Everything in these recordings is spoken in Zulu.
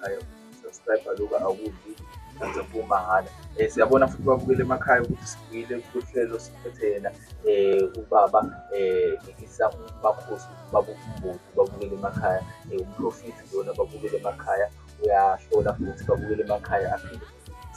emakhaya subscribe lokho akudli kanti kumahhala um eh, siyabona futhi babukele emakhaya ukuthi sibuyile kuhlelo siphethe yena um ubaba um ngikisa umakhosi baba umbuti babukele emakhaya um umprofiti lona babukele emakhaya uyahlola futhi babukele emakhaya aphinde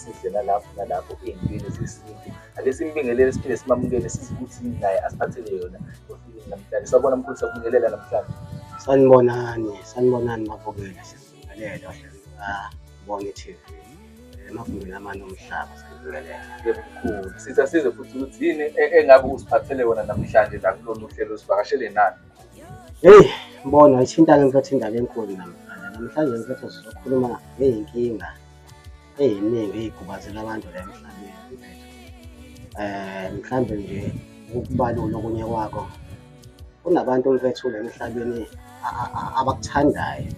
sidlela lapho nalapho ey'ntweni zesintu ake simbingelele siphinde simamukele sizi ukuthi yini naye asiphathele yona ofikile namhlanje sabona mkhulu sakubingelela namhlanje sanibonani sanibonani mabukele sibingelele ohlelibone i-tv emagumbini amane omhlaba sanibingelela mkhulu sithi asize futhi ukuthi yini e-, engabe usiphathele yona namhlanje la kulolu hlelo sivakashele nani heyi mbona ithinta-ke mfethu indaba enkulu namhlanje namhlanje mfethu sizokhuluma ngey'nkinga eziningi ezikhubazela abantu la emhlabeni eh mhlambe nje ukubalula okunye kwakho kunabantu mfethu la emhlabeni abakuthandayo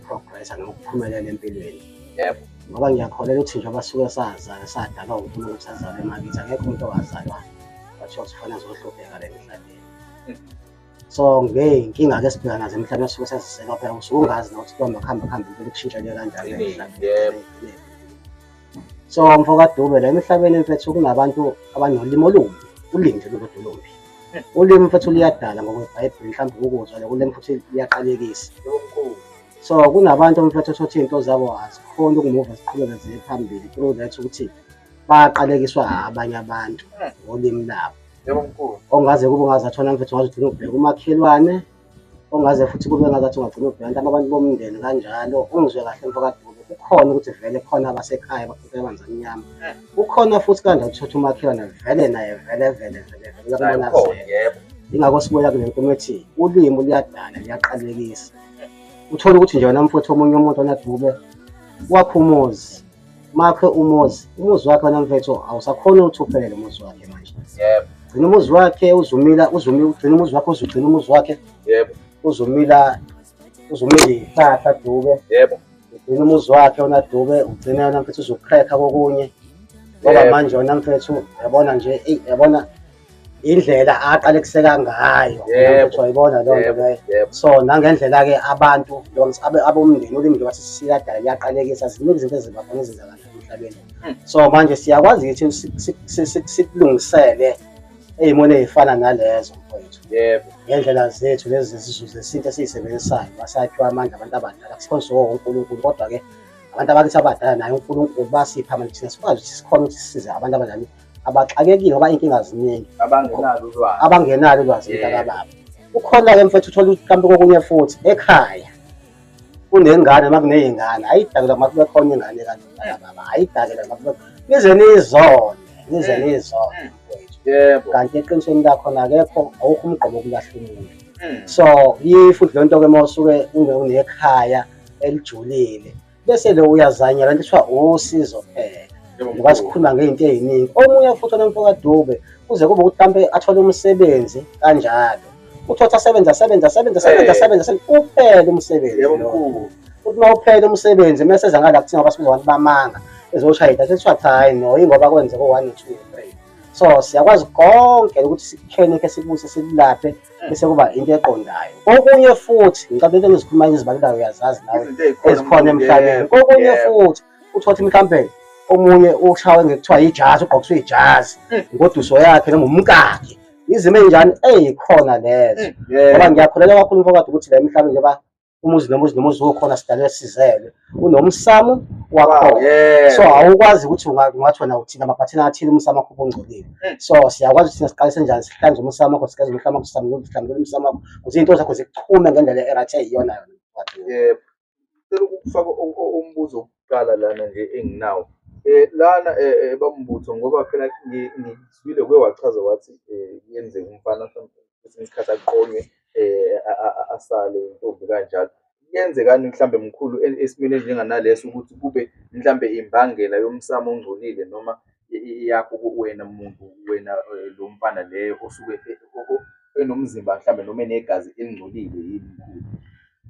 progress nokuphumelela empilweni yebo ngoba ngiyakholelwa ukuthi nje abasuke sazana sadalwa uNkulunkulu ukuthi azalwe emakithi akekho umuntu owazalwa kwathiwa kufanele azohlupheka la emhlabeni so ngey'nkinga ke sibheka nazo emhlabeni osuke saziseka phela usuke ungazi nokuthi kuhamba kuhamba kuhambe impela kushintshele kanjani emhlabeni so mfo kadube la emhlabeni mfethu kunabantu abanolimi olumbi ulimi nje lolodwa olumbi ulimi mfethu luyadala ngokwebhayibheli mhlawumbe ukuzwa le ulimi futhi liyaqalekisa so kunabantu mfethu othothi iy'nto zabo azikhona ukumuva ziqhubeke ziye phambili through that ukuthi baqalekiswa abanye abantu ngolimi labo Yebo mkhulu. Ongaze kube ungaze athona mfethu ngaze ugcine ubheka umakhelwane. Ongaze futhi kube ngaze athi ungagcina ubheka abantu abantu bomndeni kanjalo. Ungizwe kahle mfakadube. Kukhona ukuthi vele khona abasekhaya bakhuphe amanzi amnyama. Eh. Kukhona futhi kanje uthatha umakhelwane vele naye vele vele vele vele labona yebo. Ingakho sibuya kule nkulumo ethi ulimi luyadala liyaqalekisa. Eh. Uthola ukuthi nje wena mfowethu omunye umuntu onadube wakho umuzi makhe umuzi umuzi wakhe wena mfethu awusakhona ukuthi uphelele umuzi wakhe manje yebo gcina umuzi wakhe uzumila uzumila ugcina umuzi wakhe uzugcina umuzi wakhe yebo uzumila uzumila ihlahla dube yebo ugcina umuzi wakhe wona dube ugcina yona mfethu uzukhrekha kokunye ngoba Yebo. manje wena mfethu yabona nje eyi yabona indlela aqale kuseka ngayo uyibona loo nto leyo so nangendlela-ke abantu abomndeni ulimi njengoba sisikadala liyaqalekisa ziningi izinto eziba khona ezenzakalayo emhlabeni hmm. so manje siyakwazi ukuthi sikulungisele ey'moni ey'fana nalezo mfowethu yebo ngendlela zethu lezi zizulu zesintu esiyisebenzisayo basakhiwa amandla abantu abadala sikhonze wonke unkulunkulu kodwa-ke abantu abakithi abadala naye unkulunkulu basipha manje thina sikwazi ukuthi sikhona ukuthi sisize abantu abadala abaxakekile ngoba inkinga ziningi abangenalo ulwazi abangenalo ulwazi mntakababa ukhona-ke mfethu uthola mhlawumbe kokunye futhi ekhaya kunengane uma kuney'ngane ayidakela uma kube khona ingane kanti mntakababa ayidakela uma kube nize nizone nize mm. nizone mm. mfethu kanti eqinisweni lakhona akekho awukho umgqobo okulahla umuntu mm. so yifuthi le nto-ke uma usuke unekhaya elijulile bese lo uyazanyela into kuthiwa usizo phela ngoba sikhuluma ngey'nto ey'ningi omunye futhi onomfokadube kuze kube ukuthi mhlawumpe athole umsebenzi kanjalo uthothi asebenze asebenze asebenze asebenze asebenze uphele umsebenzi futhi uma uphele umsebenzi uma seza ngala kuthiwa basibiza abantu bamanga ezoshaya idatha kuthiwa cha hayi no yingoba kwenzeka u-one no-two no-three so siyakwazi konke ukuthi sikukhenekhe sikubuse sikulaphe bese kuba into eqondayo kokunye futhi ngicabanga into engizikhuluma ngizibalelayo uyazazi nawe ezikhona emhlabeni kokunye futhi uthothi mhlampe omunye ushawe ngekuthiwa yijazi ugqokiswe ijazi hmm. ngoduso yakhe noma umkakhe izimo enjani eyikhona lezo hmm. ngoba ngiyakholelwa kakhulu mfowethu ukuthi la emhlabeni njengoba umuzi nomuzi nomuzi ukhona sidalwe sizelwe unomsamo wakho ah, so awukwazi ukuthi ungathi wena uthina amaphathina athile umsamo wakho ubungcolile hmm. so siyakwazi ukuthi siqalise njani sihlanze umsamo wakho sigeze umhlama wakho sihlambulule sihlambulule umsamo wakho kuze izinto zakho ziqhume ngendlela erathi eyiyona yona yebo cela ukufaka umbuzo wokuqala lana nje enginawo Eh, lana eh, eh, bambutho ngoba phela ngizwile kuye wachaza wathi kuyenzeka umfana kwesinye isikhathi aqonywe um asale intombi kanjalo kuyenzekani mhlawumbe mkhulu e-, esimeni esinjenganaleso ukuthi kube mhlawumbe imbangela yomsamo ongcolile noma yakho wena muntu wena eh, lo mfana leyo osuke e-, enomzimba mhlawumbe noma enegazi elingcolile yini mkhulu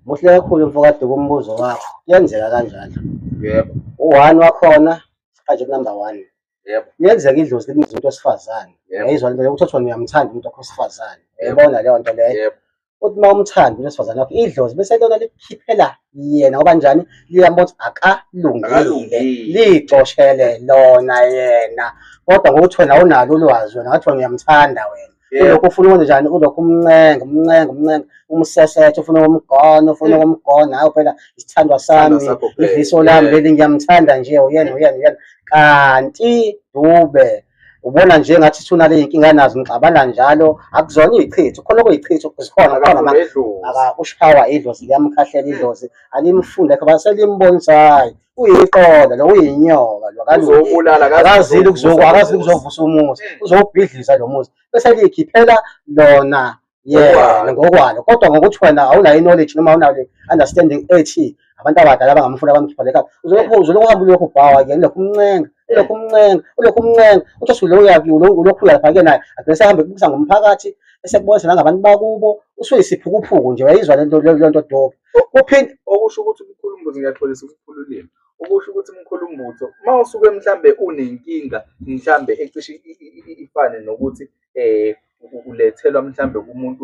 muhle kakhulu mfokade kumbuzo wakho kuyenzeka kanjalo yebo u-one wakhona aje kunumber one yebo yenzeka idlozi libiza umuntu wesifazane Yebo. yayizwa lento yokuthi kuthiwa uyamthanda umuntu wakho wesifazane Yebo. yabona leyo nto leyo yebo uthi uma umthanda umuntu wesifazane wakho idlozi bese lona likukhiphela yena ngoba njani liyambona ukuthi akalungile Akalungile. liyicoshele lona yena kodwa ngokuthi wena awunalo ulwazi wena ngathi wena uyamthanda wena ulokhu ufuna ukwenza njani ulokhu umncenga umncenga umncenga umsesethe ufuna ukumgona ufuna ukumgona hawu phela isithandwa sami idliso lami leli ngiyamthanda nje uyena uyena uyena kanti dube ubona nje ngathi thuna le inkinga nazo ngixabana njalo akuzona izichitho khona okuyichitho zikhona khona manje ushawa idlozi liyamkhahlela idlozi alimfunde kho baselimbonisa hayi uyiqola lo uyinyoka lo Uzowubulala, akazi akazile ukuzovusa ukuzoku akazile umuzi. ukuzovusa umuzi Eh. uzowubhidliza lo muzi bese likhiphela lona yena Ngokwalo. ngokwalo kodwa ngokuthi wena awunayo knowledge noma awunayo understanding ethi abantu abadala bangamfuna bamkhipha lekhala uzolokhu uzolokhu uhamba ulokhu ubhawa ke ulokhu umncenga ulokhu umncenga ulokhu umncenga uthi usulo uyakuyo ulokhu uyalapha ke naye agcine sehambe kubusa ngomphakathi esekubonisa nangabantu bakubo usuyisiphukuphuku nje wayizwa lento lento dope uphinde okusho ukuthi umkhulu mbuzo ngiyaxolisa umkhulu ulimi okusho ukuthi umkhulu mbuzo uma usuke mhlambe unenkinga mhlambe ecishe ifane nokuthi eh ulethelwa mhlambe kumuntu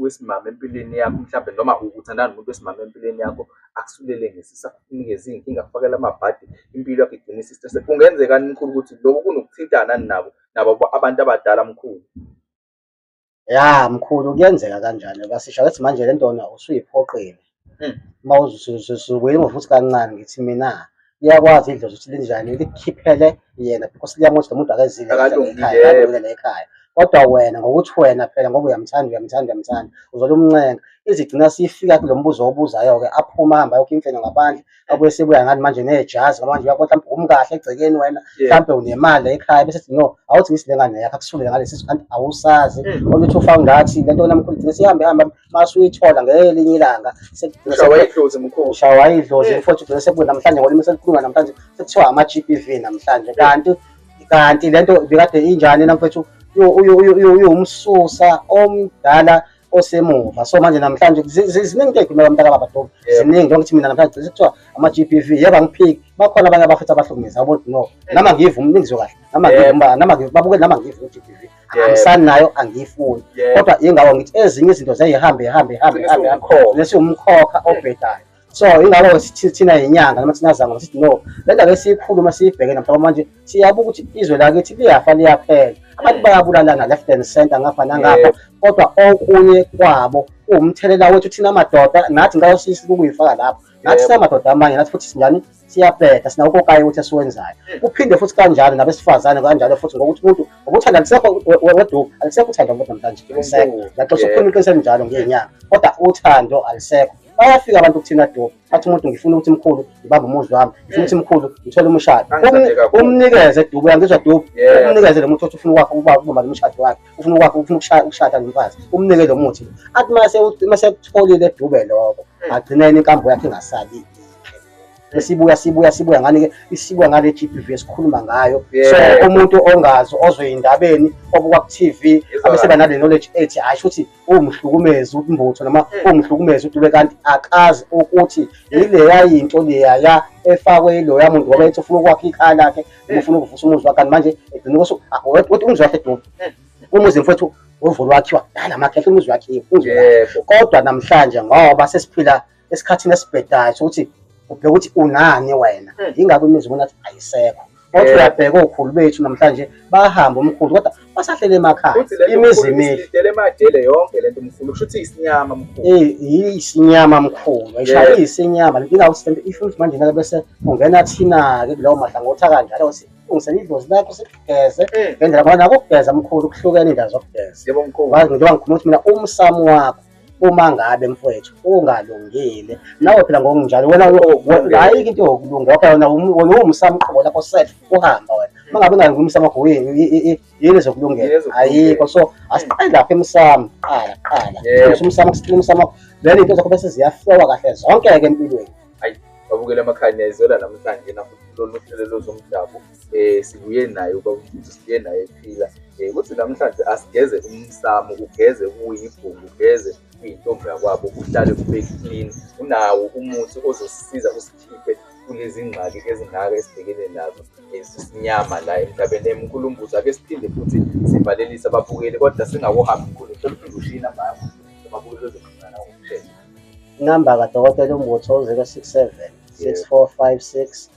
wesimama empilweni yakho mhlambe noma ukuthandana nomuntu wesimama empilweni yakho akusulele ngesisa kunikeza izinkinga kufakela amabhadi impilo yakho igcina isisitese kungenzeka mkhulu ukuthi lokhu kunokuthintana nabo nabo abantu abadala mkhulu ya mkhulu kuyenzeka kanjani basisha ukuthi manje le ntona usuyiphoqile Hmm. uma uzuzukuyimo futhi kancane ngithi mina iyakwazi idlozi ukuthi linjani likhiphele yena because liyamuthi lo muntu akezile Akalungile. ekhaya akalungile ekhaya kodwa wena ngokuthi wena phela ngoba uyamthanda uyamthanda uyamthanda uzolumncenga izigcina sifika kulo mbuzo owubuzayo-ke aphuma ahambe ayokho imfene ngaphandle akwese buya ngani manje nejazi ngoba manje uyakothi mhlawumbe umi kahle egcekeni wena mhlawumbe unemali la ekhaya bese sithi no awuthi ngisi lengane yakho akusifundele ngalesi sisu kanti awusazi oluthe ufa ngathi lento wena mkhulu gcine sihambe hamba masuyithola ngelinye ilanga ushawa idlozi mfowethu gcine sekubuye namhlanje ngolimi selikhuluma namhlanje sekuthiwa ama-GBV namhlanje kanti kanti lento bekade injani namfowethu uyomususa omdala osemuva so manje namhlanje ziningi into ey'khuluma kamntaka baba dobe ziningi njengoba kuthi mina namhlanje gcise kuthiwa ama-g p v yeba ngiphiki bakhona abanye abafethu abahlukumeza abo no nama ngivu umlingizwe kahle nama ngivu nama ngivu babuke nama ngivu u-g p v angisani nayo angiyifuni kodwa yingawo ngithi ezinye izinto ziyayihambe ihambe ihambe ihambe ihambe lesiwumkhokha obhedayo so ingakho thina yinyanga noma thina zangoma sithi no le ndaba esiyikhuluma siyibheke namhlaba manje siyabuka ukuthi izwe lakithi liyafa liyaphela abantu bayabulalana left and center ngapha nangapha kodwa okunye kwabo uwumthelela wethu thina madoda nathi ngicela usisi ukuyifaka lapho nathi sinamadoda amanye nathi futhi sinjani siyabheda sina ukokayo ukuthi esiwenzayo hmm. kuphinde futhi kanjalo nabesifazane kanjalo futhi ngokuthi umuntu ngokuthanda alisekho weduku alisekho uthando ngokuthi namhlanje ngiyaxoxa ukhuluma iqiniso elinjalo ngenyanga kodwa uthando alisekho bayafika abantu kuthina dope athi umuntu ngifuna ukuthi mkhulu ngibambe umuzi wami ngifuna ukuthi mkhulu ngithole umshado umnikeze dubu uyangizwa dubu umnikeze lo muthi othi ufuna ukwakho ukubamba lo mshado wakhe ufuna ukwakho ufuna ukushada nomfazi umnike lo muthi athi mase mase kutholile dube lokho hmm. agcineni inkambo yakhe ingasali esibuya sibuya sibuya ngani ke isibuya ngale GBV esikhuluma ngayo so umuntu ongazi ozoyindabeni obuka ku TV abese banale knowledge ethi hayi ukuthi ungihlukumeza umbutho noma eh. ungihlukumeza udube kanti akazi ukuthi eh. yileya yinto leyaya efakwe yiloya muntu ngoba ethi ufuna ukwakha ikhaya lakhe eh. ufuna ukuvusa umuzi wakhe kanti manje egcina ukuthi ah, ukuthi umuzi wakhe dube umuzi mfowethu uvulwa wakhiwa dala amakhehla umuzi wakhiwe kodwa namhlanje ngoba sesiphila esikhathini esibhedayo sokuthi ubheke ukuthi unani wena hmm. yingakho imizi ubona ukuthi ayisekho kodwa uyabheka okhulu bethu namhlanje bahamba umkhulu kodwa basahlele emakhaya imizi imihle yonke lento mkhulu kusho ukuthi isinyama mkhulu eh isinyama mkhulu ayishaya isinyama inkinga ukuthi lento ifuna manje ngeke bese ungena thina ke kulowo mahlangothi kanjalo ukuthi ungisela idlozi lakho sikugeze hmm. ngendlela ngoba nakugeza mkhulu kuhlukene indawo zokugeza yebo mkhulu ngiyoba ngikhuluma ukuthi mina umsamo wakho uma ngabe mfowethu ungalungile nawe phela ngokunjalo wena ayike into yokulunga okay wena wena uwumsamqobo lapho set uhamba wena uma ngabe ungalungi umsamqobo yini yini zokulungela ayikho so asiqale lapha emsamo qala qala umsamo kusiqina umsamo vele into zakho bese ziyaflowa kahle zonke ke empilweni ayi babukele amakhanya izwela namhlanje nafuthi lolu hlelo lozomdabu eh sibuye naye ubaba uMfundisi sibuye naye ephila eh kuthi namhlanje asigeze umsamo ugeze kuyibhungu ugeze kuyintombi yakwabo uhlale ube clean unawo umuthi ozosisiza usikhiphe kulezi ngxaki ezingaka esibhekene nazo esisinyama la emhlabeni emkhulu umbuzo ake siphinde futhi sivalelise ababukeli kodwa singakuhambi khulu sokuphinde ushina mama ababukeli bezoxhumana ngokushesha inamba kadokotela umbuthi 067 6456